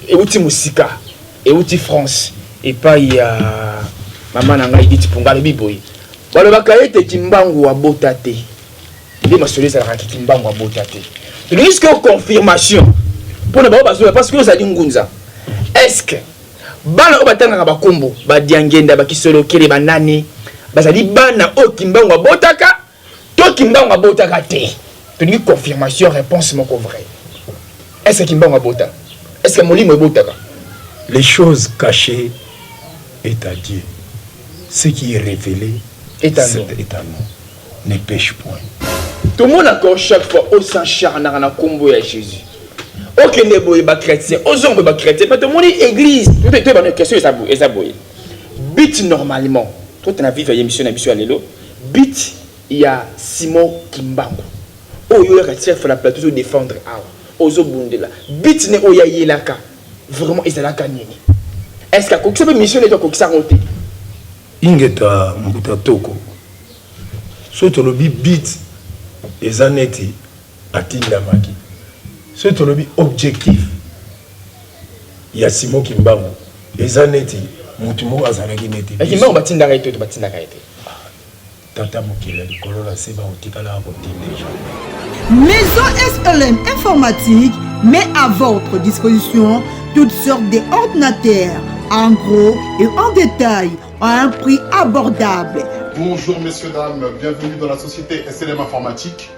Ewuti mosika, ewuti France epayi ya mama na ngai Edith Punga, alobi boye, Balobaka ete Kimbangu abota te, nde masolo ezalaka ke Kimbangu abota te. Tolingi sikoyo confirmation mpo na baoyo bazoloba, parce que ozali ngunza, est ce que bana oyo batangaka ba kombo ba Diangienda, ba Kisolokele, ba nani, bazali bana oyo Kimbangu abotaka? To kimbangu abotaka te tolingi confirmation réponse moko vrai est ce que kimbangu abota est ce que molimo ebotaka les choses cachées est à Dieu ce qui est révélé est à nous, est à nous. ne pêche point tomonaka o chaque fois osancharnaka na nkombo ya jésus okende boye bachrétien ozonga boye bachrétien mpe tomoni église toyebana question eza boye but normalement totana vive ya émission na biso ya lelo Beat ya Simon kimbangu oyo yo oyaka chef na plateau ozo defendre awa ozo bundela beat ne oyo ya yelaka vraiment ezalaka nini est ce que akokisa pe mission neto akokisa yango te. Ingeta mbuta toko soki tolobi beat eza neti. Atindamaki. Soki tolobi objectif ya Simon Kimbangu eza neti mutu moko azalaki neti biso. Kimbangu batindaka ye te to batindaka ye te? Tata mokili ya likolo na se bakotikalaka kotinda jamais. Maison SLM Informatique met à votre disposition toutes sortes d'ordinateurs en gros et en détail à un prix abordable. Bonjour messieurs, dames, bienvenue dans la société SLM Informatique.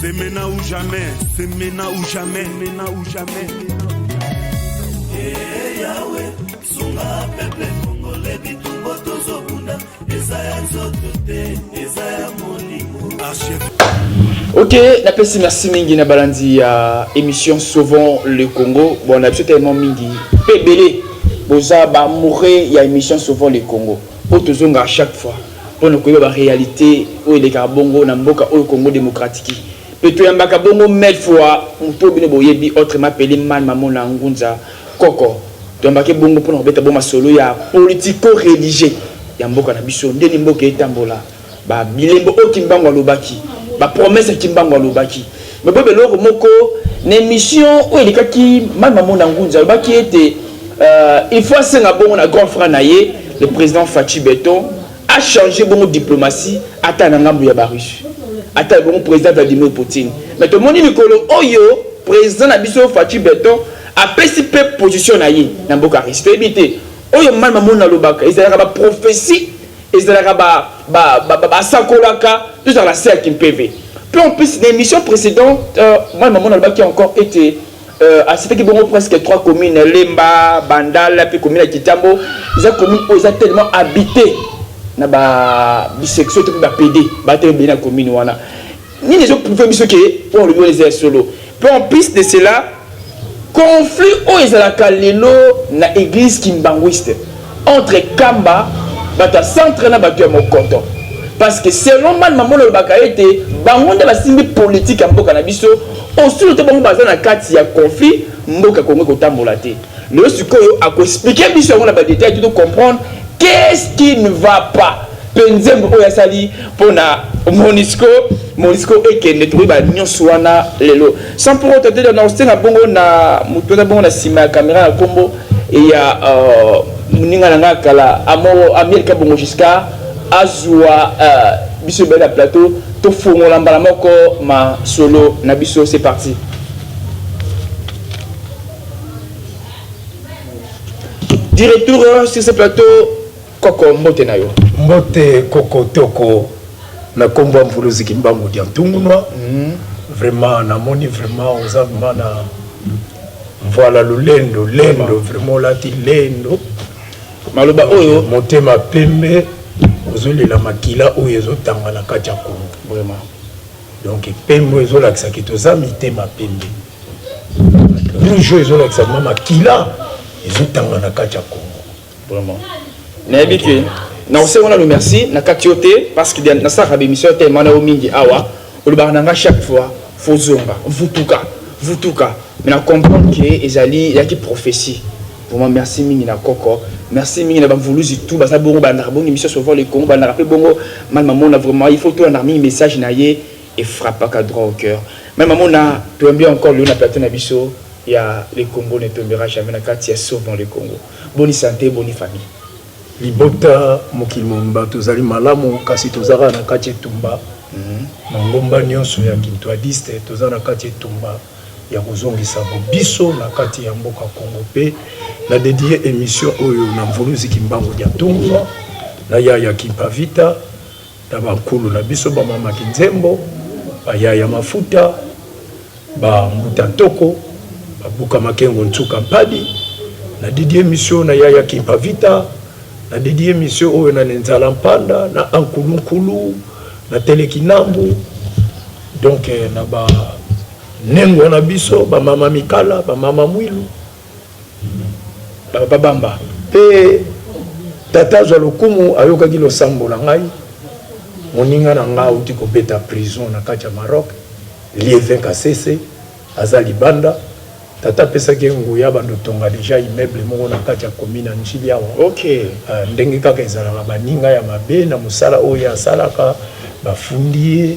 C'est maintenant ou jamais, c'est maintenant ou jamais, maintenant ou jamais. Hey, Yahweh, sunga peuple congolais bitumbo tozobunda eza ya nzoto te eza ya molimo ok napesi merci mingi na balandi ya émission sauvons le congo bon na biso tellement mingi mpe ebele boza baamoureux ya émission sauvons le congo mpo tozonga chaque fois mpo na koyeba ba realites oyo elekaka bongo na mboka oyo Congo demokratiki mpe toyambaka bongo Melfua moto oyo bino boyebi autrement appele Man Mamona Ngunza Koko. Toyambake bongo mpo na kobeta bo masolo ya politico-religieux ya mboka na biso, ndeni mboka etambola, ba bilembo oyo Kimbangu alobaki, ba promesses Kimbangu alobaki. Boyeba eloko moko, Na emission oyo elekaki, Mani Mamona Ngunza alobaki ete il faut asenga bongo na grand frère na ye le President Fatshi Beton a changer bongo diplomatie ata na ngambo ya ba Russes, ata ebongo President Vladimir Poutine. Mais tomoni mikolo oyo President na biso Fatshi Beton apesi mpe position na ye na mboka Russie. Toyebi te oyo Mani Mamona alobaka ezalaka ba propheties Ezalaka ba ba ba ba sakolaka tozala na se ya kimpeve pe en plus na emission precedente mwana maman nalobaki encore ete a citaki bongo presque trois communes lemba, bandal pe commune ya kitambo eza commune oyo eza tellement habite na ba bisexuel to pe ba pede baza tellement ebele na commune wana. Nini ezo prouver biso que oyo olobi wana eza ya solo? Mpe en plus de cela, conflit oyo ezalaka lelo na eglise kimbanguiste entre Kamba, bato ya centre na bato ya Mokoto. Parce que selon Man Mambola olobaka ete bango nde basimbi politique ya mboka na biso, osolo te bango baza na kati ya conflit, mboka Congo ekotambola te. Lelo sikoyo ako expliquer biso yango na ba details to to comprendre qu'est-ce qui ne va pas? pe nzembo oyo asali pona monisco monisco ekende tokoyeba nyonso wana lelo sans pour autant tete na osenga bongo na moto wana bongo na nsima ya kamera ya nkombo ya euh, moninga na ngai kala amielka bongo jusqu'à azwa euh, biso ebele na plateau tofongola mbala moko masolo na biso c'est parti du retour sur ce plateau Koko mbote na yo. Mbote koko toko na kombo ya mvuluzi kimbangu diantungunua vraiment na moni vraiment oza vraiment na mvuala lulendo lendo vraiment olati lendo maloba oyo motema pembe ozolela makila oyo ezotanga na kati ya kongo vraiment donc pembe oyo ezolakisa ke toza mitema pembe rouge oyo ezolakisa mama kila ezotanga na kati ya kongo Vraiment. nayebi ke nakosengo nano merci nakati yo te parce que nasalaka bemission te mana yo mingi awa olobaka na nga chaque fois fozonga vutuka vutuka mais na comprendre ke ezali yaki prophétie vraiment merci mingi na koko merci mingi na bamvuluzi tout baza bongo balandaka bongo émission sauveur le congo balandaka mpe bongo mani mamona vraiment il faut tolandaka mingi message na ye efrappaka droit au cœur mani mamona toyambi encore lelo na plateau na biso ya le congo ne tombera jamais na kati ya sauveur le congo Boni sante boni famille. Libota mokili mobimba tozali malamu kasi toza kaka na kati etumba mangomba nionso ya kintuadiste toza na kati etumba ya kozongisa bobiso na kati ya mboka Congo pe na dedier emission oyo na mvuluzi kimbangu diantumva na yaya kimpa vita na ba nkulu na biso ba mama kinzembo ba yaya mafuta ba mbuta ntoko ba buka makengo nsuka mpadi na didier misio na yaya kimpa vita na didier misio oyo na nenzala mpanda na ankulu nkulu na tele kinambu donc na ba nengwa na biso ba mama mikala ba mama mwilu Ba papa bamba. Mpe tata azwa lokumu ayokaki losambo na ngai. Moninga na ngai auti kobeta prison na kati ya Maroc, Lievin Kasese, aza libanda. Tata apesaki ye nguya abanda kotonga dejà immeuble moko na kati ya commune ya N'djili awa. Okay. Ah, ndenge kaka ezalaka baninga ya mabe na mosala oyo ye asalaka bafundi ye.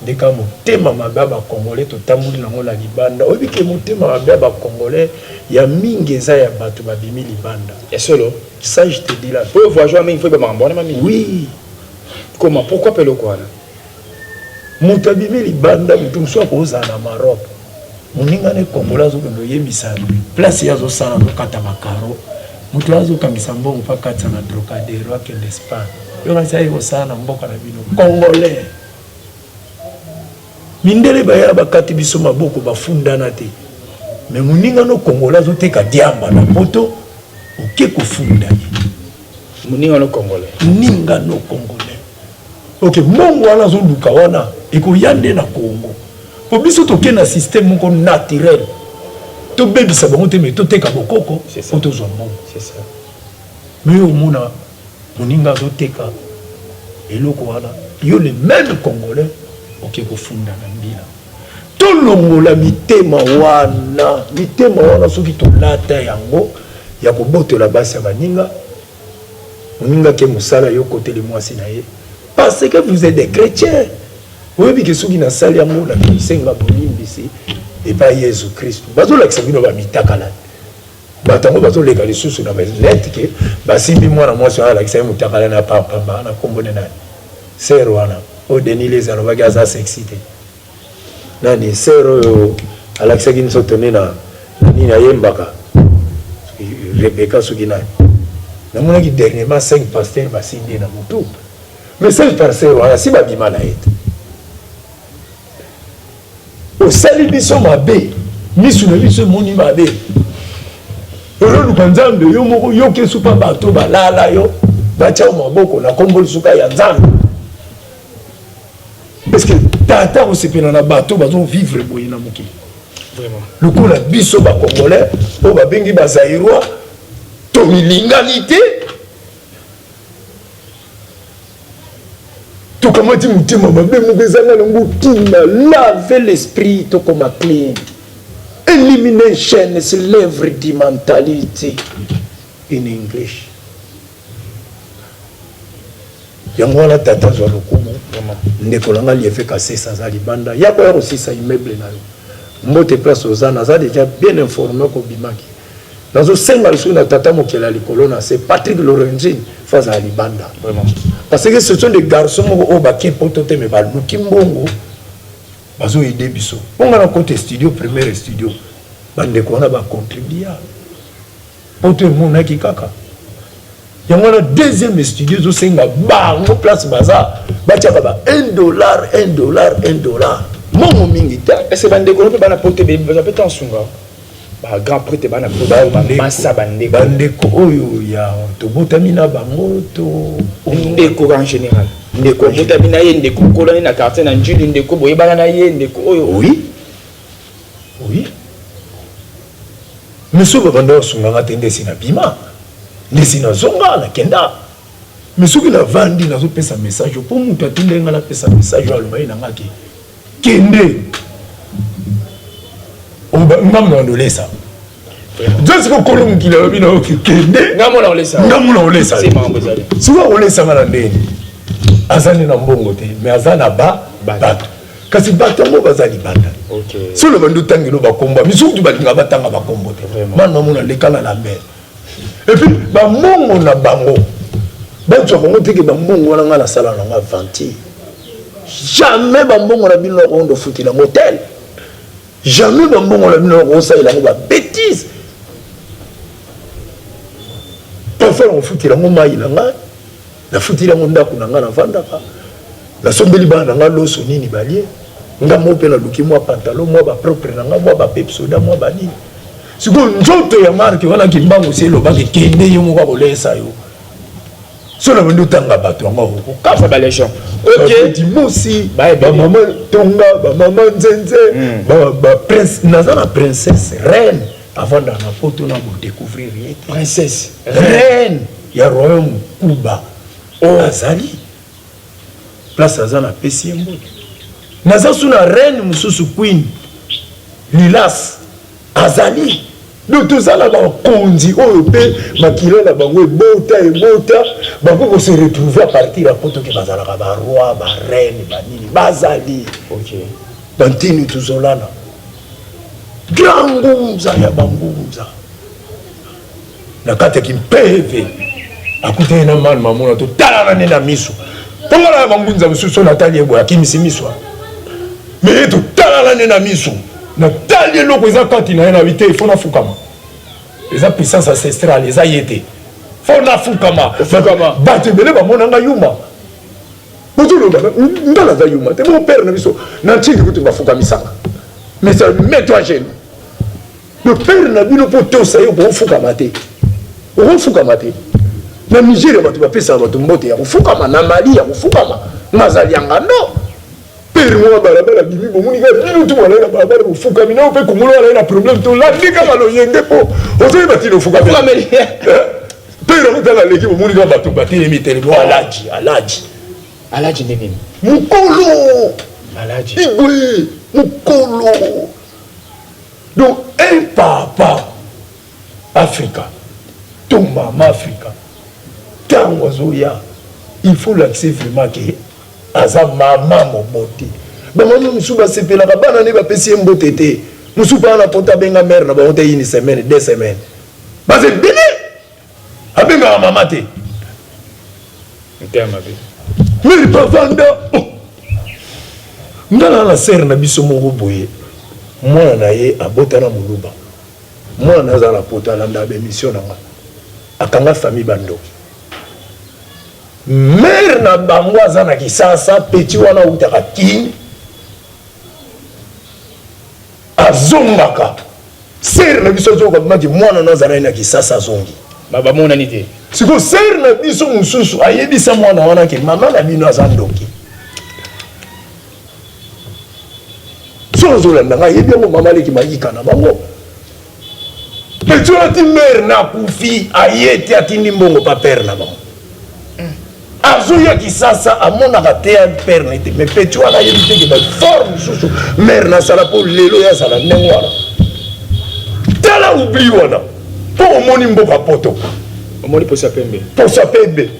Nde ka motema mabe ya ba congolais totamboli na ngo na libanda oyebi ke motema mabe ya ba congolais ya mingi eza ya batu ba bimi libanda ya solo ça je te dis la po voyageur mingi faut ba makambo wana mingi oui comment pourquoi pe eloko wana mutu abimi libanda mutu mususu akozala na Maroc Moninga ne congolais azo kende oyebisa place ye azo sala azo kata ba caro moto ya azo kangisa mbongo pa katisa na Trocadero akende spa yo kanisa ye kosala na mboka na bino congolais mindele baya bakati biso maboko bafundana te me moninga no congolais azo teka diamba na poto oke kofunda ye moninga no congolais moninga no congolais ok mbongo wana azoluka wana ekoya nde na congo Po biso toke na système moko naturel. To bebisa bango te mais to teka bokoko po to zwa mbongo. C'est ça. Mais yo omona moninga azo teka eloko wana yo le même congolais oke kofunda na mbila tolongola mitema wana mitema wana soki tolata yango ya kobotola basi ya baninga Moninga ke musala yo koteli muasi na ye parce que vous êtes des chretiens oyebi ke soki na sali yango na kosenga bolimbisi epa yezu christu bazo lakisa bino ba mitakalani bato yango bazoleka lisusu na net ke basimbi mwana mwasi wana alakisa ye motakala na pampamba na nkombo ne nani ser wana oyo denis lezi alobaki aza sexy te Nani soeur oyo alakisaki biso tone na nini ayembaka Rebecca soki nani namonaki dernièrement 5 pasteurs basimbi ye na motu mais 5 pasteurs wana si babima na ye te osali biso mabe misu na biso emoni mabe ololuka nzambe yo moko yoka esupa bato balala yo batya maboko na kombo lisuka ya nzambe parce que tata akosepela na bato bazo vivre boye na mokili lokola biso bacongolais oyo babengi bazairoi tomilingani te tokamati motema mabe moko ezanga nango kima lave l'esprit tokoma clean elimination is l'œuvre du mentality in english Yango wana tata zua lokumu ndeko na nga liefe kasese aza libanda yako ya kosisa immeuble na yo mbote place oza naza deja bien informe oko bimaki nazo senga lisusu na tata mokeli ya likolo na se Patrick Lorenzi fo azala libanda parce que ce sont des garçons moko oyo baki poto te mais baluki mbongo bazo aider biso mpo nga na kote studio première studio bandeko wana ba contribua Poto emonaki kaka yango wana deuxième studio ezosenga bango place baza batiaka ba 1 dollar 1 dollar 1 dollar mongo mingi te ese bandeko no mpe bana poto baza mpe ta nsunga ba grand prete bana masa bandeko bandeko oyo ya tobotami na bango to ndeko en général ndeko obotami na ye ndeko okolani na quartier na njili ndeko boyebana na ye ndeko oyo oui Oui mais soki babanda basunga nga te nde esi na bima nde esi na zonga na kenda mais soki na vandi nazo pesa message po mutu atindaki nga na pesa message aloba ye na nga ke kende ngambo na ndolesa Just ko kolo mukila lobi na oki kende. Ngambo na olesa. Ngambo na olesa. Sima ngambo ezali. Sima olesa ngana ndeni. Azali na mbongo te, mais azali na ba bato. Kasi bato yango bazali banda. Okay. Solo bando tangelo ba kombo. Misutu balinga batanga ba kombo te. Mano mona lekala la mer. Et puis ba mbongo na bango. Bato ya Kongo teke ba mbongo wana ngana sala na nga venti. Jamais ba mbongo na bino na Kongo ndofutila hotel. Jamais ba mbongo na bino bako salela yango ba betises. Parfois na kofutela yango mayi na ngai, na futeli yango ndako na ngai na vandaka, na sombeli bana na ngai loso nini balie, nga moko mpe naluki mwa pantalon mwa ba propre na ngai mwa ba pepsoda mwa ba nini. Sikoyo nzoto ya marque wana kimbangu se elobaki kende ye moko akolesa yo. solo bandi otanga bato yango akokokafa balesion okdimosi bamama tonga bamama nzenze baprince hmm. naza na princesse reine avandaka na poto na kodecouvrir ye te princesse reine ya royaume kuba oh. azali place aza na pesi ye mbote naza su na reine mosusu queen lilas Azali donc toza na bakonzi oyo mpe makila na bango ebota ebota bako ko se retrouver à partir ya poto ke bazalaka ba roi ba reine banini bazali okay. bantini tuzolana grand ngunza ya bangunza na kati ya kimpeve akutani na mani mamona totalana nde na miso mpongala ya bangunza mosusu oyo natali eboye akimisi miso me ye totalana nde na miso natali eloko eza kati na ye na bite ifo nafukama eza puissance ancestrale eza ye te fo nafukama bato ebele bamona ngai yuma bozoloba nga naza yuma te bopere na biso na ntindi kutu bafukamisaka mais mets toi gene Le père na bino mpo tosa ye okofukama te, okofukama te. Na Nigeria bato bapesaka bato mbote ya kofukama, na Mali ya kofukama, mazali ya ngando pere moko ya balabala bimi bomoni kaka bino tu balai na balabala bofukami nao mpe kongolo alai na problème tolandi kaka loyenge mpo ozoyeba ntina ofukameli pere yango ntango aleki bomoni kaka bato batelemi telemi oh, alaji alaji alaji nde nini mokolo igwe mokolo Donc un papa Africa to mama Africa ntango azoya il faut lakise vraiment ke aza mama mobote bamama mosusu basepelaka bana nde bapesi ye mbote te mosusu bana pota abenga mare na bango te ini semaine de semaine baza ebele abengaka mama te meri bavanda oh. nga na na sere na biso moko boye mwana na ye abota na moluba mwana na aza na poto alanda bemission na nga akanga famille bandoki mere na bango aza na kisasa peti wana autaka kin Azongaka. Sœur na biso azoyoka mpe maki mwana na azalaki na Kisasa azongi. Ba bamonani te. Siko sœur na biso mosusu ayebisa mwana wana ke mama na bino aza ndoki. Soki ozolanda ngai yebi yango mama leki mayika na bango. Petit oyo ti mère na kufi aye te atindi mbongo pa père na bango. azoya kisasa amonaka te ya père na ye te mais petit wana ayebi te ke bafort mosusu mare nasala mpo lelo ye azala ndenge wana tala oubli wana mpo omoni mboka poto omoni posa pembe posa pembe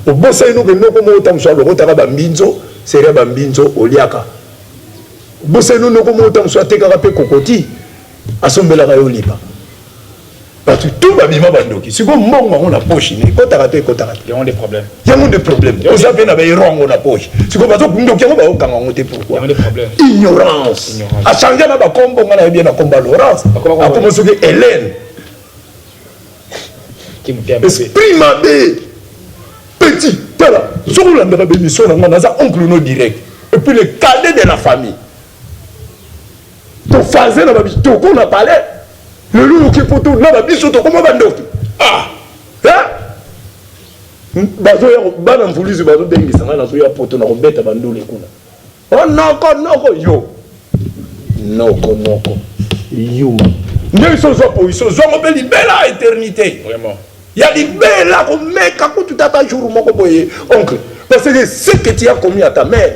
obosani noke noko moko ntango mosusu alokotaka bambinzo seria bambinzo oliaka obosani no noko moko ntango mosusu atekaka mpe kokoti Asombelaka yo lipa. Batu tout ba bima ba ndoki. Siko mbongo yango na poche ne kotaka te kotaka te. Yango de problème. Yango de problème. Oza pe na ba erongo na poche. Siko bazo ndoki yango ba okanga ngo te pourquoi? Yango de problème. Ignorance. Ignorance. A changer na ba kombo ngana yebi na komba Laurence. Akomo soki Hélène. Esprit mabe. Petit. Tala. Soko la ndaka bemission na ngana za oncle no direct. Et puis le cadet de la famille. To faze na ba bitoko na palais lelo oyoki poto na ba biso tokoma ba ndoki ah hein hmm? bazo ya bana mvuluzi bazo bengisa ngai nazo ya poto na kobeta ba ndule kuna oh noko noko yo noko noko yuma nde iso ozwa po iso ozwango mpe libela eternité vraiment ya libela komeka kutu tata jour moko boye oncle parce que ce que tu as commis à ta mère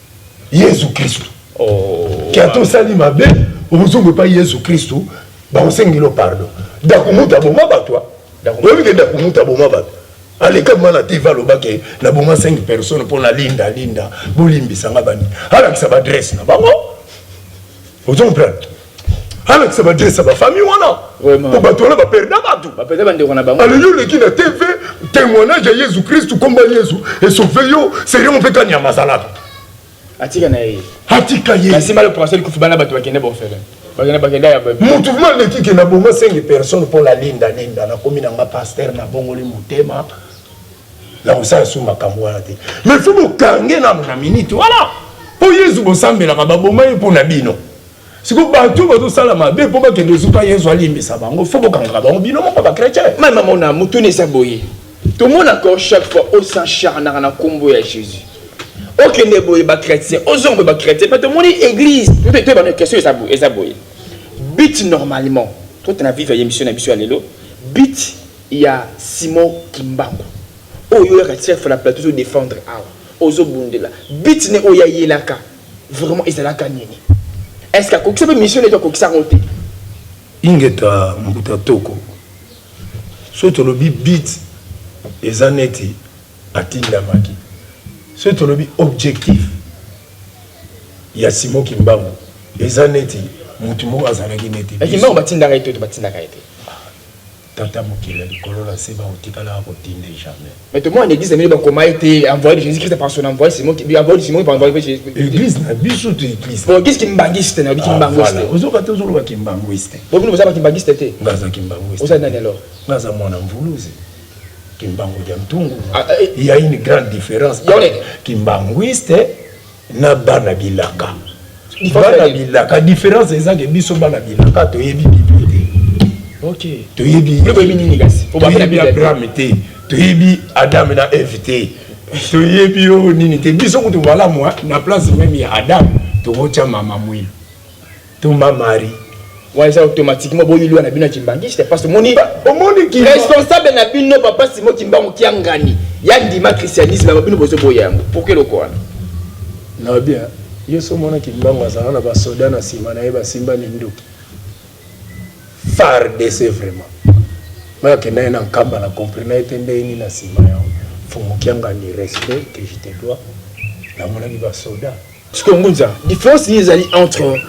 yesu kristu oh, ke ata osali mabe okozonga epai yesu kristu bakosengelo pardon dakumuta boma bato ah. oyebi ke dakumuta boma bato aleka mwana te va aloba ke naboma 5 personne mpo na linda linda bolimbisa nga bani alakisa baadresse na bango ozo comprendre alakisa badrese ya bafamille wana po bato wana baperda bato alingi oleki na tv témoignage ya yesu kristu nkomba yesu esove yo serio mpe kani ya mazalaka atika na ye atika ye kasi mbala proce likufi bana bato bakende bofele motu vrima aleki ke na bonga senge personne mpo na linda linda nakomi nanga paster nabongoli motema na kosala su makambo wana te mais fo bokange nano na minute wana mpo yesu bosambelaka baboma ye mpo na bino siko bato oyo bazosala mabe mpo bakende ezuka yesu alimbisa bango fo bokangaka bango bino moko bakretien mama mona motuna eza boye tomonaka o chaque fois osencharnaka na nkombo ya jésus okende boye bakretien ozonga boye bakretien mpe tomoni église mpe toyeba na question eza boye eza boye but normalement totana vive ya émission na biso ya lelo but ya simon kimbangu oyo oyaka chef na plateau ozodefendre awa ozobundela but ne oyo ayelaka vraiment ezalaka nini est ce que akokisa mpe mission neti akokisa yango te ingeta mbuta toko soki tolobi bit eza neti atindamaki soki tolobi objectif ya simo kimbangu eza neti motu moko azalaki neti kimbangu batindaka ye te batindaka ye te Tata mokeli ya likolo na se bako tikalaka ko tinde jamais. Mais tomona na eglise na bino ba koma ete envoye de Jesus Christ par son envoye Simon qui lui envoye Simon qui envoye de Jesus Christ. Eglise na biso to eglise. Bon eglise kimbanguiste na bi kimbanguiste. Ah, ozo kata ozo loba kimbanguiste. Bon bino boza ba kimbanguiste te. Nga za kimbanguiste. Oza nani alors? Nga za mwana mvuluzi. Kimbangu ya mtungu. Ah, eh, eh. Il y a une grande différence. Kimbanguiste na bana bilaka bana bilaka difference eza ke biso bana bilaka toyebi bible te okay. toyebi abraham te toyebi adam na eve te toyebi oyo nini te biso kutu malamu na place meme ya adam tokotya mama mwina Tumba Marie. Wana eza automatiquement bo yulua na bino ya kimbanguiste parce omoni omoni ki responsable na bino papa Simon Kimbangu kia ngani ya ndima christianisme yango bino bozo boya yango pourquoi eloko wana na bien yo so mona Kimbangu azala na ba soda na sima na ye basimba minduki FARDC vraiment mais akenda ye na nkamba na compris na ye te ndenge nini na sima yango fumu kia ngani respect que je te dois namonaki ba soda Sikoyo Ngunza, difference nini ezali entre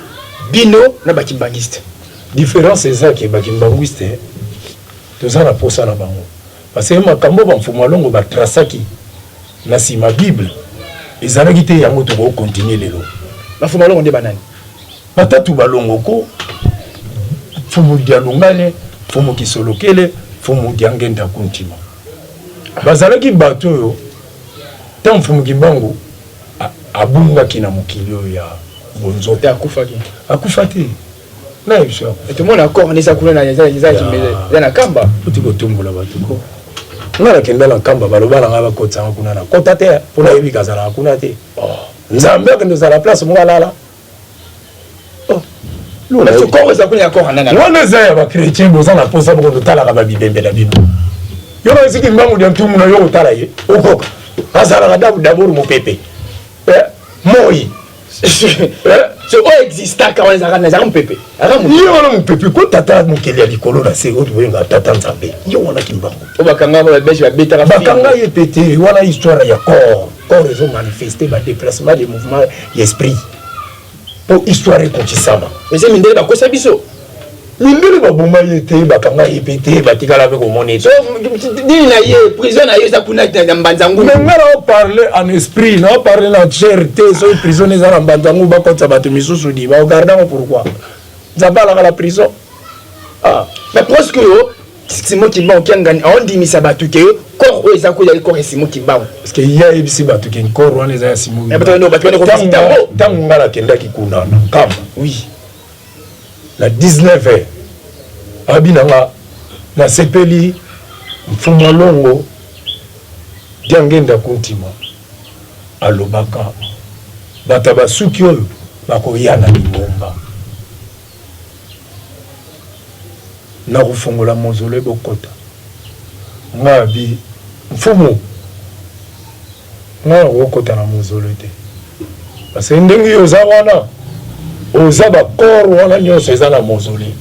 bino na ba kimbanguiste? Difference eza ke ba kimbanguiste toza na posa na bango parce que makambo ba Mfumu Alongo ba tracaki na sima bible ezalaki te yango toko continuer lelo. Ba Mfumu Alongo nde ba nani? Batatu ba Longoko, Mfumu Dialungane, Mfumu Kisolokele, Mfumu Diangenda Kuntima. Bazalaki bato oyo tango Mfumu Kimbangu Abungaki na mokili oyo ya bonzoto. Te akufaki. Akufa te. Nani biso akufa? Tout le monde accord nisa kuna na eza eza kimbele. Eza na kamba. Kuti kotumbola bato ko. Nga nakenda na kamba baloba na nga bakotisa nga kuna na kota te. Pona yebi kazala kuna te. Nzambe akende ozala place moko alala. wana eza ya bakretien boza na mposa boko totalaka babibembe na bino yo baisi kimbangu dia ntumu na yo kotala ye okoka azalaka dabor mopepe eh, moi oyo existaka wana ezalaka ezalaka mopepe ye wana mopepe ko tata mokeli ya likolo na se oyo tobenga tata nzambe ye wana kimbangu oyo bakanga babeshe babetaka bakanga ye pete wana histoire ya corps corps ezo manifeste ba deplacement de mouvement ya esprit po histoire ekotisama ese mindele bakosa biso mindele baboma ye te bakanga ye mpe te batikala mpe komona ye so dini na ye prison na ye eza kuna na mbanzangu me nga nao parle en esprit nao parle na chair te soki prison eza na mbanzangu bakotisa bato misusu di baogardango pourquoi nzambe alaka la prison ah. mais presque yo Simon Kimbangu Kiangani aondimisa bato ke corps oyo eza koya corps ya Simon Kimbangu parce que ye ayebisi bato ke corps wana eza ya Simon eh, Kimbangu bato wana kovisita yango ntango ngai nakendaki kuna na Nkamba oui na 19 heures abi na nga nasepeli mfuma longo diangenda kuntima alobaka bato ya basuki oyo bakoya na lingomba Nakofongola mausolee bokota. Nga bi mfumu nga nakokota na mausolee te parce que ndenge yo oza wana oza ba corps wana nyonso eza na mausolee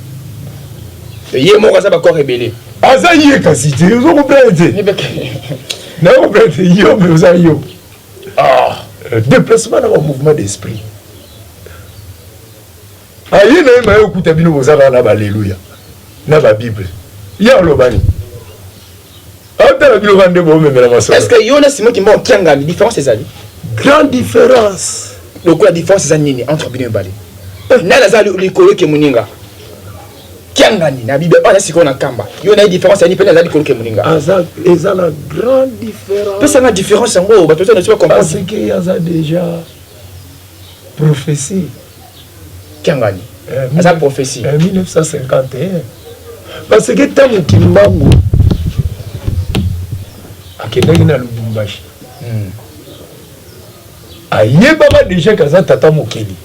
ye moko aza ba corps ebele aza ye kasi te ozo comprendre te nayo comprendre te yo mpe oza yo ah. euh, déplacement na ba mouvement d'esprit aye na ye maye okuta bino boza kaka na baleluya na babible ye alobani atala bino kaka nde boomemela masolo est ce que yo na simo kimba okiangani différence ezali grande différence lokola différence eza nini entre bino mibale eh. nani aza likolo eke moninga kiangani na bible oyo aza sikoyo na kamba yo na ye différence yani mpene aza likolo eke moninga eza na grande différence pesanga différence yango bato oza na biso bacomprendre aza deja Prophetie. Kiangani aza prophetie. 1951 parce que ntango Kimbangu akendaki na Lubumbashi hmm. ayebaka deja ke aza tata mokeli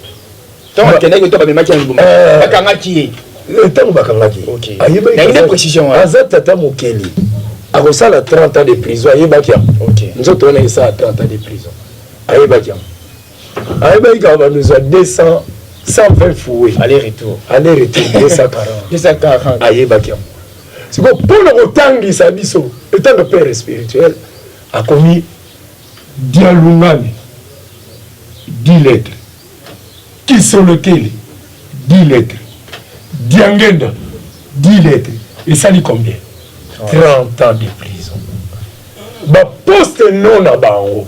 ntango akendaki to bamemaki na Lubumbashi eh. bakangaki ye ntango eh, bakangaki ayebaki aza tata mokeli akosala 30 ans de prison ayebaki yango nzoto wana esala 30 ans de prison ayebaki yango ayebaki kaka bando ezwa 200 120 fouet aller retour aller retour 240 ayebaki yango sikoyo mpo na kotangisa biso etant de père spirituel akomi dialungani di lettre kisolokeli di lettre diangenda di lettre esali combien 30 ans de prison baposte non na bango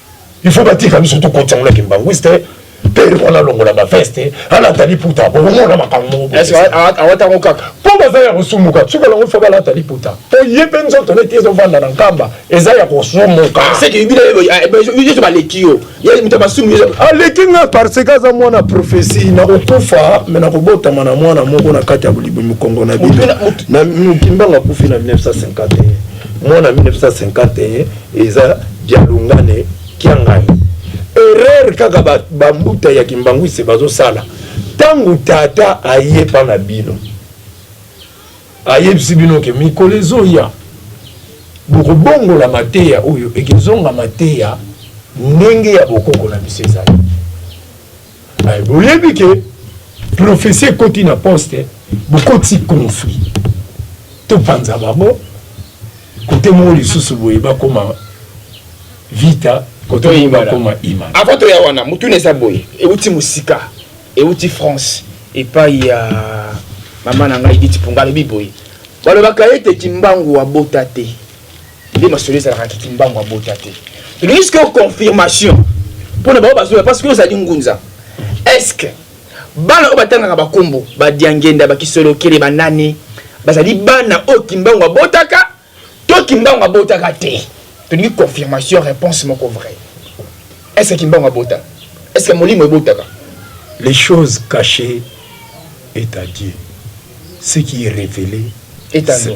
il faut batika biso tokotisa ngo na kimbanguiste pere wana alongola baveste alata liputa bokomona makambo mokoawata ngo kaka mpo baza ya kosumuka soki alongo fa balata liputa mpo ye mpe nzoto neti ezovanda na nkamba eza ya kosumuka baleki yo aleki nga parce que aza mwana profesi nakokufa me nakobotama na mwana moko na kati ya bolibo mikongo na bino na mokimbango akufi na 1951 mwana 1951 Eza dialungane kiangani erreur kaka ba, ba mbuta ya kimbanguiste bazosala tangu tata aye pa na bino ayebisi bino ke mikolo ezoya bokobongola mateya oyo ekezonga mateya ndenge ya bokoko na biso ezali Mais boyebi que prophetie ekoti na poste bokoti conflit topanza bango kote moko lisusu boye bakoma vita kote moko bakoma ima avant toya wana motuna eza boye euti mosika euti france epai ya mama na ngai diti mponga alobi boye balobaka ete kimbangu abota te nde masolo ezalaka kiki mbangu abota te tolingi sikoyo confirmation mpo na bango bazoya parce que ozali ngunza estce bana oyo batangaka bakombo badiangenda bakisolokele banani bazali bana oyo kimbangu abotaka to kimbangu abotaka te tolingi confirmation réponse moko vrai estce kimbangu abota estce molimo ebotaka les choses cachées est à dieu ce qui est révélé est à nous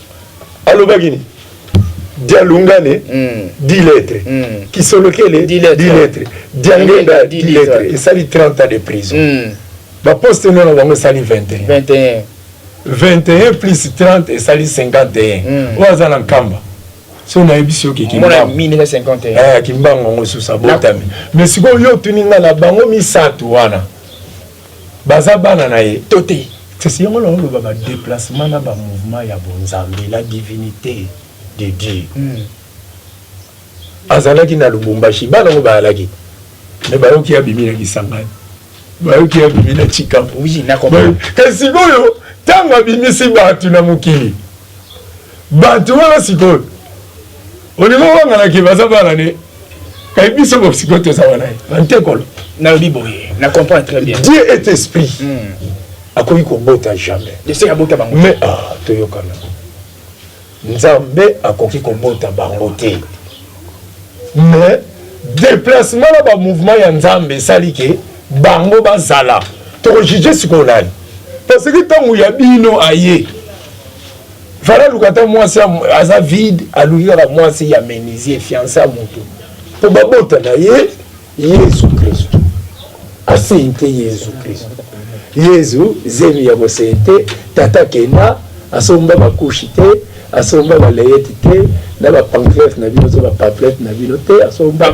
alobaki nini dialungane mm. diletre mm. kisolokele diletre diangenda diletre esali 30 ans de prison mm. baposte no na bango esali 21 21 21 plus 30 esali 51 mm. oyo aza na nkamba so nayebisi yo kimbango yango susa botami mais sikoyo yo otuni ngai na bango misato wana Baza bana na ye to te? C'est yango na oloba ba deplacement na ba mouvement ya bonzambe la divinite de Dieu azalaki na lubumbashi bana ngo bayalaki mais bayoki abimi na kisangani bayoki abimi na chikapu kasi sikoyo ntango abimisi bato na mokili bato wana sikoyo olingi obangana ke baza bana ne kai biso bosikoyo toza wana ye bantekolo nalobi boye na comprendre très bien dieu est esprit mm. akoki kobota jamais ese abota bango mais ah, toyokana nzambe akoki kobota bango te mais déplacement na bamouvement ya nzambe esali ke bango bazala tokojuge sikoyo nani parce que ntango ya bino aye Fala luka ata mwasi aza vide aluki kaka mwasi ya menuisier fiance ya moto mpo babota na ye Yesu Kristo asente Yesu Kristo Yesu zemi ya bosente tata kenda asomba bakushi te asomba baleyeti te na bapanclete na bino to bapaplete na bino te asomba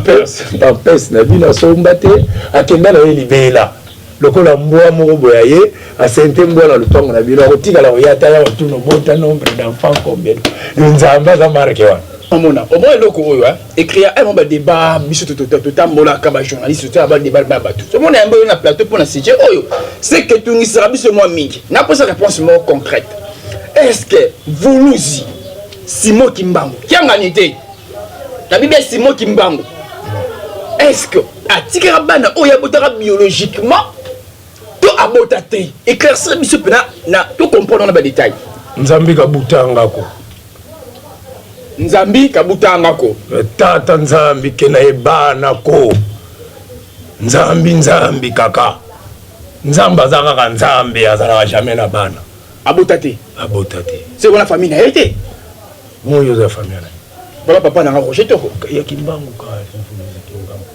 pampes na bino asomba te akenda na ye libela Lokola mbwa moko boye aye a sente mbwa na lupangu na bino akotikala koya ata ya otuna obota nombre d'enfants combien yo nzambe aza marque wana. Omona omona eloko oyo hein ecrit ya un ba debat biso totambolaka ba journaliste totala ba debat ba bato tomona yango yo na plateau mpo na sujet oyo c'est que etungisaka biso mwa mingi naposa réponse moko concrète est ce que vuluzi simo kimbangu kiangani te na bibi ya simo kimbangu eske atikaka bana oyo abotaka biologiquement to abota te éclaircir biso mpena na tocomprendre na badetail nzambi kabutangako nzambi kabutangako eh, tata nzambi kena ye bana ko nzambi nzambi kaka nzambe aza kaka nzambe azalaka jamais na bana abota te abota te se wana famille na ye te Moyi oza famille na bala papa na nga Roger Toko ya Kimbangu ka influence Kimbangu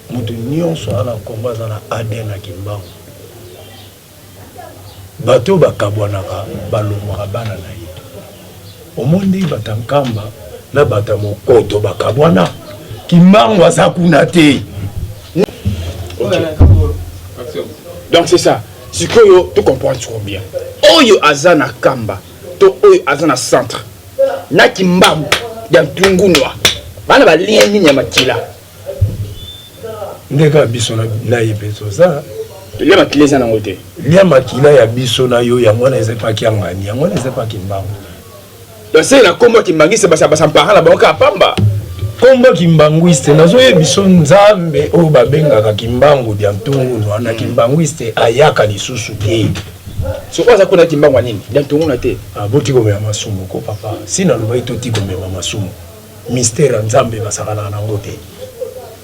mutu nyonso ana Congo aza na ADN na Kimbangu bato bakabwanaka balongwaka bana na ye omoni ndenge bato ya Nkamba na bato ya Mokoto bakabwana Kimbangu aza kuna te donc c'est ça sikoyo to comprendre siko bien oyo aza na Kamba to oyo aza na centre na kimbagu ya ntungunua bana ba lien nini ya makila ndeka biso na ye mpe toza lia makila eza nango te lia makila ya biso na yo yango wana eza epaki ya ngani yango wana eza epaki mbangu base na nkombo ya kimbangiste basampara na bango kaka pamba nkombo ya kimbanguiste nazoyebiso nzambe oyo babengaka kimbangu dia ntungunua na kimbanguiste ayaka lisusu te soko aza kuna kimbangu nini donc tomona te ah, botikomema masumu ko papa si nalobaki totikomema masumu mystère ya nzambe basakanaka nango te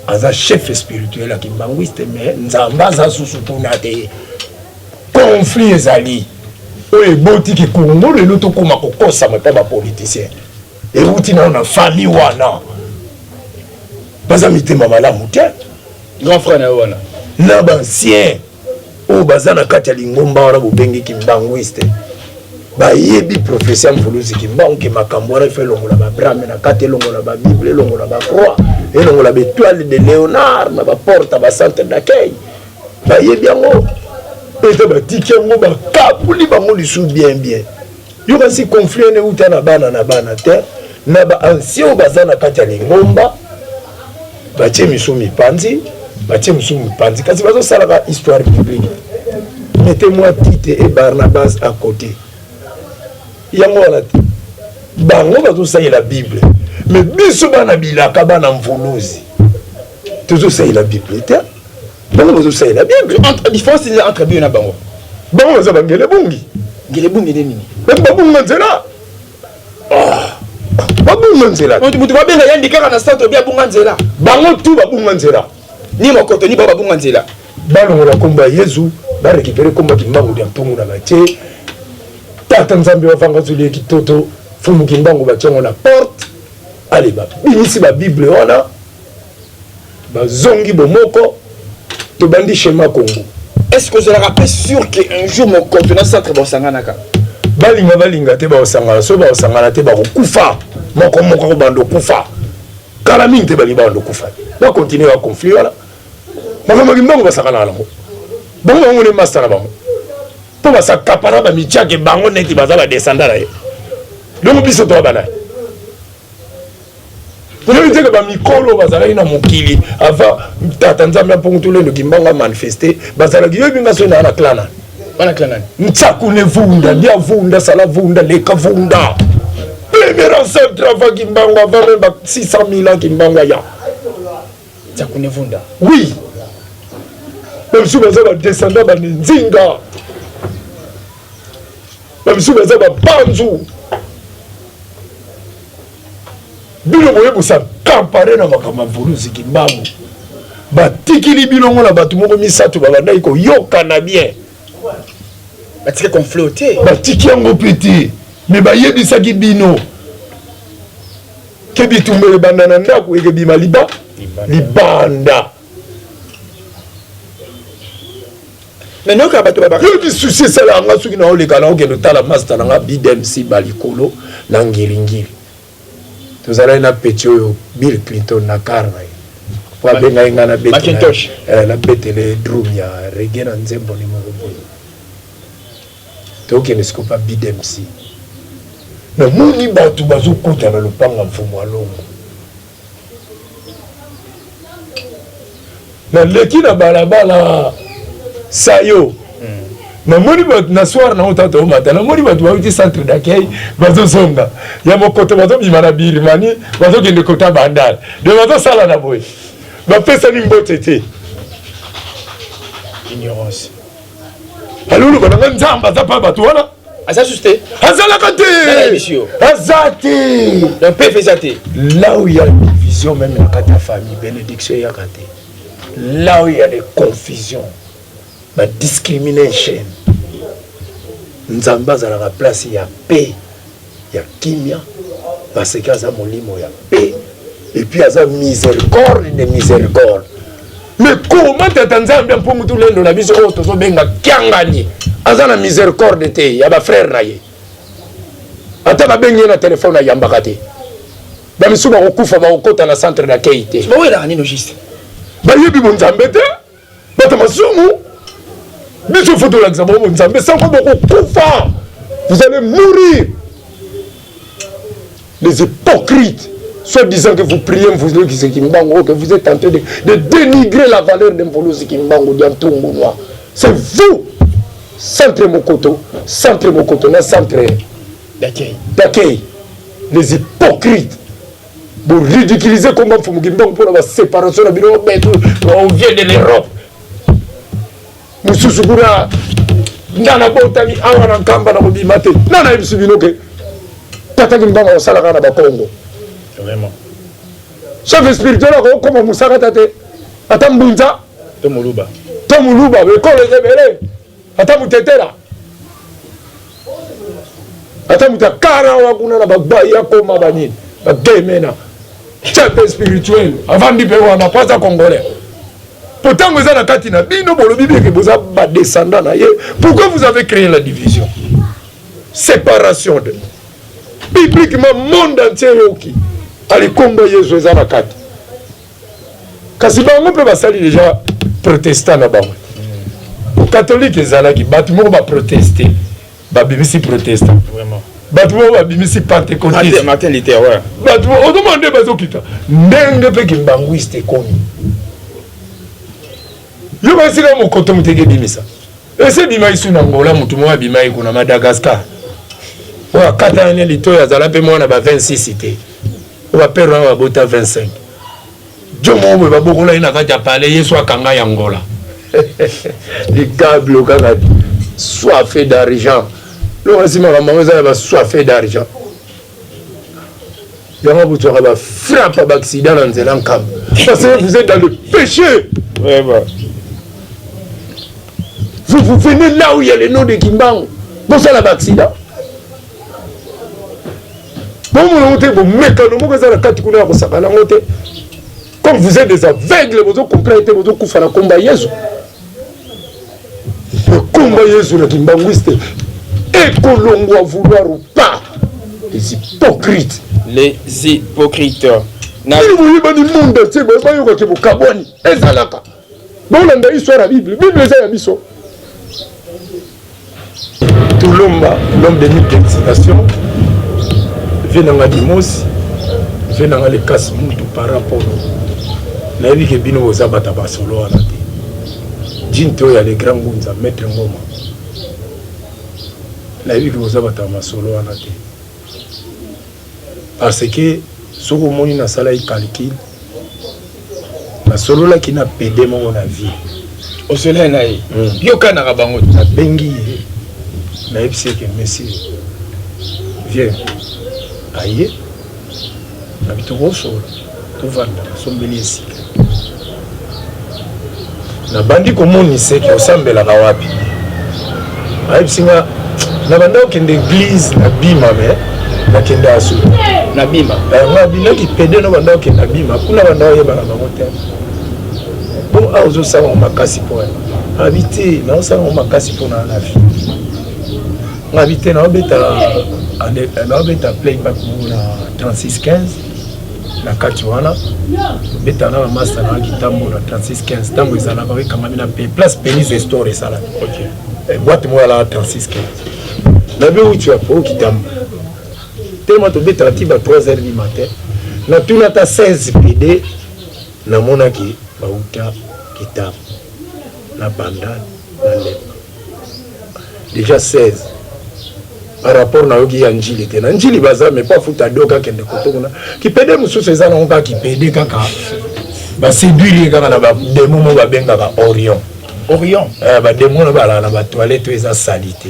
aza chef spirituel ya kimbanguiste mais nzambe aza susu kuna te conflit ezali oyo eboti ke kongo lelo tokóma kokosama mpo bapoliticien euti nano na famille wana baza mitema malamu te grand frère na yo wana na bancien oyo baza na kati ya lingomba wana bobengi kimbanguiste bayebi profesi ya mvuluzi kimbangu ke makambo wana ifa elongola babrame na kati elongola babible elongola bacroix elongola baetoile de léonard na baporte bacentre d'accueil bayebi yango eza batiki yango bakaboli bango lisusu bien bien Yo kasi conflit ene uta na bana na bana te na ba anciens oyo baza na kati ya lingomba batie misu mipanzi batie misu mipanzi kasi bazosalaka histoire biblique mete mwa tite e barnabas à côté yango wana te bango bazosalela bible me biso bana bilaka bana mvuluzi tozo salela bible te bango bazo salela bible entre différence eza entre biyo na bango bango baza bangele bungi ngele bungi nde nini bato babunga nzela ah, babunga nzela moto babenga yandi kaka na centre bi abunga nzela bango tu babunga nzela ni mokoto ni bao babunga nzela balongola nkombo ya yezu barekipere nkombo ya kimbangu lya mpungu na batie tata nzambe bavanga zoli ya kitoto fumu kimbangu batiango na porte ale babimisi babible wana bazongi bomoko tobandi shema kongo est-ce que ozalaka mpe sur que un jour mokonto na centre baosanganaka balinga balinga te baosangana soki baosangana te bakokufa moko moko akobanda okufa kala mingi te balingi babanda okufa te bakontinue ba conflit wana makambo ya kimbangu basakanaka nango bango bango nde masta na bango mpo basakapana bamitiake bango neti baza badesanda na ye dongo biso toa banaye Toyebi te que ba mikolo bazalaki na mokili avant tata Nzambe apongo tole ndoki mbanga manifester bazalaki yebi nga sona na clana. Bana clana. Nsaku ne vunda, lia vunda, sala vunda, leka vunda. Premier ancêtre avant Kimbangu avant même 600 000 ans Kimbangu aya. Nsaku ne vunda. Oui. Bamisusu baza ba descendant ba Nzinga. Bamisusu baza ba Banzu. bino boye bosa kampare na makambo ya vuluzi kimbangu batikili bino ngo na bato moko misato babandaki koyokana bien batiki conflit te batiki yango mpe te me bayebisaki bino ke bitumba ebanda na ndako ekebima liba libanda mais noyoka bato babaka yo lisusi esalaka nga soki naoleka naokende otala masta na nga bidmc balikolo na ngiringiri tozalaki na peti oyo bill clinton na kar na ye po abengaki nga na betele eh, drum ya rege na nzembo ni moko boye tokende sikopa bidmc namoni bato bazokota na lopango ya mfumu alongo naleki na balabala sayo namoni bato na soir nango tata omata namoni bato bauti centre d'accueil bazozonga ya mokoto bazobima na birmani bazokende kota bandal de bazosala na boye bapesani mbote te ignorance aloloba nanga nzambe aza mpa bato wana aza susu te azalaka te aza te donc pef eza te là où ya division même na kati ya famille bénédiction eyaka te là où ya les confusion ba discrimination nzambe azalaka place ya paix ya kimia parce que aza molimo ya paix et puis aza miséricorde de miséricorde mais comment tata nzambe mpungu tulendo na biso oyo tozobenga kiangani aza na miséricorde te ya bafrère na ye ata babengi ye na telefone ayambaka te bamisusu bakokufa bakokota na centre d'accueil te bayebi bonzambe te bata masumu biso fo tolakisa bango nzambe sango bokokufa vous allez mourir les hypocrites soit disant que vous priez mvuluki zekimbangu que vous êtes tenté de, de dénigrer la valeur de mvulu zekimbangu dia ntungu noir c'est vous centre mokoto centre mokoto na centre d'accueil les hypocrites Bo ridiculiser combat Mfumu Kimbangu pour la séparation na bino betu on vient de l'Europe. Mususu kuna ndana botami awa na nkamba na kobima te. Nana yebisi bino ke tata Kimbangu asalaka na Bakongo. Vraiment. Chef spirituel akokoma musakata te ata mbunza to muluba to muluba bekolo ebele Ata mutetera ata moto akarawa kuna na bagbaya ya koma banini bagemena chef spirituel avandi mpe wana mpo aza congolais mpo ntango eza na kati na bino bolobi beke boza badescendant na ye pourquoi vous avez créé la division séparation de bibliquement monde entier yoki alikomba yesu eza na kati kasi bango mpe basali deja protestant na bango katolike ezalaki bato moko baproteste babimisi protestant bato moko babimisi pentecotisme bato otomona nde bazokita ndenge mpe kimbanguiste ekomi yo basika mokoto moteki ebimisa esi ebimaki su na ngola motu moko abimaki kuna madagascar oyo akatana ne litoi azala mpe mwana ba 26 te Oyo ba père wana babota 25. Djo moko boye babokola ye na kati ya palais yesu akanga ya ngola. Ligablo kaka soife d'argent. Loka si makambo yango eza ya ba soife d'argent. Yango bozwaka ba frappe ya ba accident na nzela nkamba. Parce que vous êtes dans le péché. Ouais, bah. Vous, vous venez là où il y a le nom de Kimbangu. Bosala ba accident. bomona yango te bomekano moko eza na kati kuna ya kosakana yango te comme vous êtes des aveugles bozo comprendre te bozo kufa na komba yezu na komba yezu na kimbanguiste ekolongwa vouloir ou pas les hypocrites les hypocrites nini boyebani monde entier bayokaki bokabwani ezalaka Bolanda histoire ya Bible. Bible eza ya biso. Tulomba, l'homme de mille excitation. Venanga Dimosi, venanga le casse mutu par rapport. Nayebi ke bino boza bata ba solo wana te. Jinte oyo ya le grand Ngunza, maître Ngoma. Nayebi ke boza bata ba solo wana te. parce que soki omoni nasalaki calcul nasololaki na pede moko na vie osolai na ye hmm. yo okanaka bango nabengi ye nayebisi eke monsieur vieux aye Abi tokosola tovanda nasombeli ye sika nabandi komonisa eke osambelaka wapi ayebisi nga nabanda kokende eglize na bima me nakende asu na bima nga binaki pede nabanda kokende na bima kuna banda oyebaka bango te mpo awa ozosala makasi mpo abi te naosala makasi mpo na na vie ngabi te naobeta naobeta playback moko na 3615 na kati wana obeta na bamasta na kitambo na 3615 ntango ezalaka ekangami na pe place penis estor esalaka eh, bwate moko yalaka 3615 na be uti ya po kitambo telema tobetaka ti ba 3 heures du matin natuna ata 16 pede namonaki bauta kitambo na bandani na lemba dejà 16 par rapport nayoki ya njili te na njili baza mais pa futa doka akende koto kuna kipede mosusu eza nango kaka kipede kaka baseduire ye kaka na bademo mo babengaka orion orion eh, bademo na balala na batoilette oyo eza salite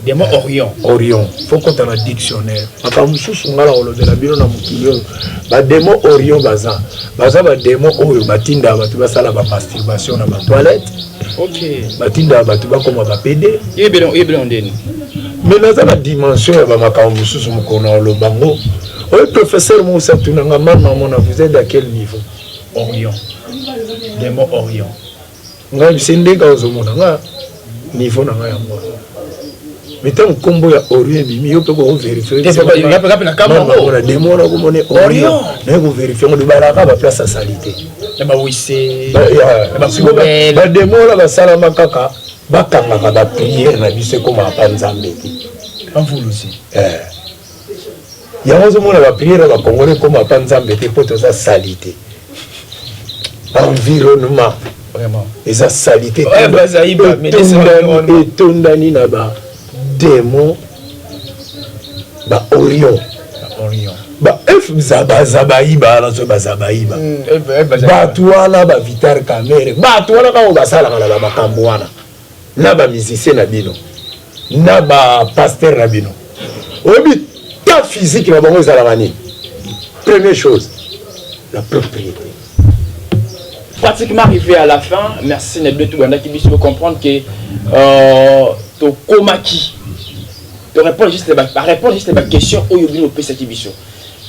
Demon Orion. Orion. Faut kota na dictionnaire. Makambo mosusu ngai nakolobela bino na mokili oyo bademo Orion baza baza bademo oyo batindaka bato basala bamasturbation na batoilette okay. batindaka bato bakoma bapede yebela ndeni mais naza na dimension ya bamakambo mosusu mokolo na oloba ngo oyo professeur moko satunanga mama mona vous êtes à quel niveau Orion demo Orion Nga lise nde kaka ozo mona nga niveau na nga ya mwa mais ntango nkombo ya orion ebimi yo mpe koko verifie na demo wana okomoni orion naye koverifie ngo libalaka baplace ya salite bademo wana basalama kaka bakangaka bapriere na biso ekomaka mpa nzambe te eh. Yango ozo mona ba prière ba congolais koma pa nzambe te po toza salite. Environnement vraiment eza salite etondani na ba demon ba orion ba f zabazabayiba nazo bazabayiba bato wana ba vitar camere bato wana bango basalaka na ba makambo wana na ba musiciens na bino na ba pasteur na bino oyebi ta physique na bango ezalaka nini première chose la propriété pratiquement arrivé à la fin merci na bino tobandaki biso bocomprendre ke euh, tokomaki torépondre juste barépondre juste baquestion oyo bino opesaki biso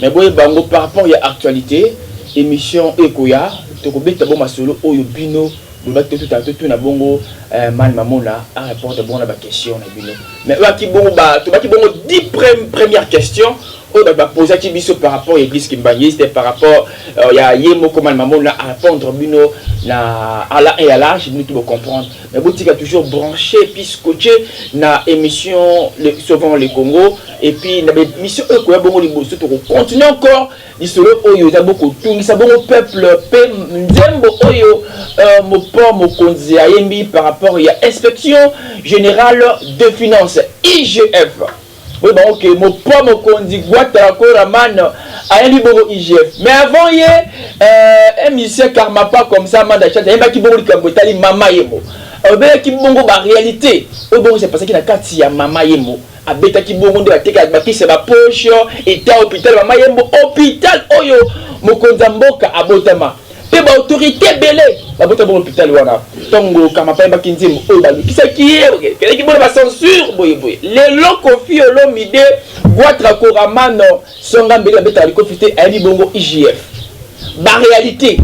mais boye bango par rapport ya actualité émission ekoya tokobeta bo masolo oyo bino Loba to tuta to tuna bongo eh, man mamona a répondre bongo na ba question na bino mais oyo aki bongo ba to baki bongo 10 première question oyo ba ba posa ki biso par rapport ya église kimbanguiste par rapport euh, ya ye moko man mamona a répondre bino na à la et à l'âge bino tout comprendre mais botika toujours branché puis scotché na émission le, sauvons le Congo et puis na émission oyo koya bongo liboso to continuer encore Lisolo oyo eza bo kotungisa bongo peuple pe nzembo oyo mopao mokonzi ayembi par rapport ya inspection generale de finance, IGF. Boyeba yango ke mopao mokonzi Guattara Koraman ayembi bongo IGF mais avant ye un musicien Karmapa comme ça Manda Chance ayembaki bongo likambo etali Mama Yemo. Alobelaki bongo ba realites oyo bongo se passaki na kati ya Mama Yemo. Abetaki bongo nde batekaki bakisi ya ba poche, etat hopital ya mama Yembo, hopital oyo mokonzi ya mboka abotama mpe ba autorites ebele babotama na hopital wana. Tango Kamapa ayembaki nzembo oyo balukisaki ye, bakendaki bongo na ba censure boye boye. Lelo Koffi Olomide, Gwatra Koramano, Songa Mbele babetaka likofi te, ayebi bongo IGF. Ba realites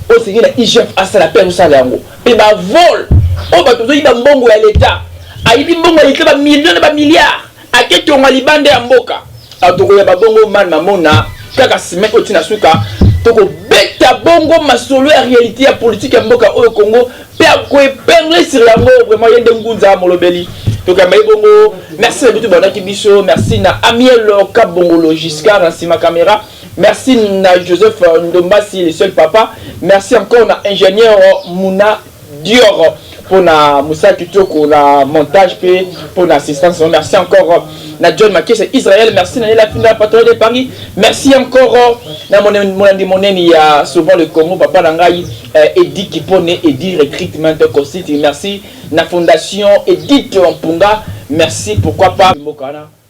oyo esengeli na IGF asala mpe azosala yango. Pe ba vol oyo batu bazo yiba mbongo ya l'etat ayibi mbongo ya l'etat ba millions na ba milliards ake tonga libanda ya mboka alors toko yaba bongo man mamona kaka ciment oyo ti na suka toko beta bongo masolo ya realite ya politique ya mboka oyo Congo pe ako epingler sur yango vraiment ye nde ngunza molobeli toko yamba ye bongo merci na bitu bandaki biso merci na amiel kabongolo Giscard na sima camera Merci na Joseph Ndombasi le seul papa. Merci encore na ingénieur Muna Dior pona musala kitoko na montage pe pona assistance. Merci encore na John Makese Israël. Merci na Nela Finda patron de Paris. Merci encore na monandi moneni ya souvent le Congo papa na ngai eh, Edi Kipone Edi Recruitment Consulting. Merci na fondation Edith Mpunga. Merci pourquoi pas Mbokana.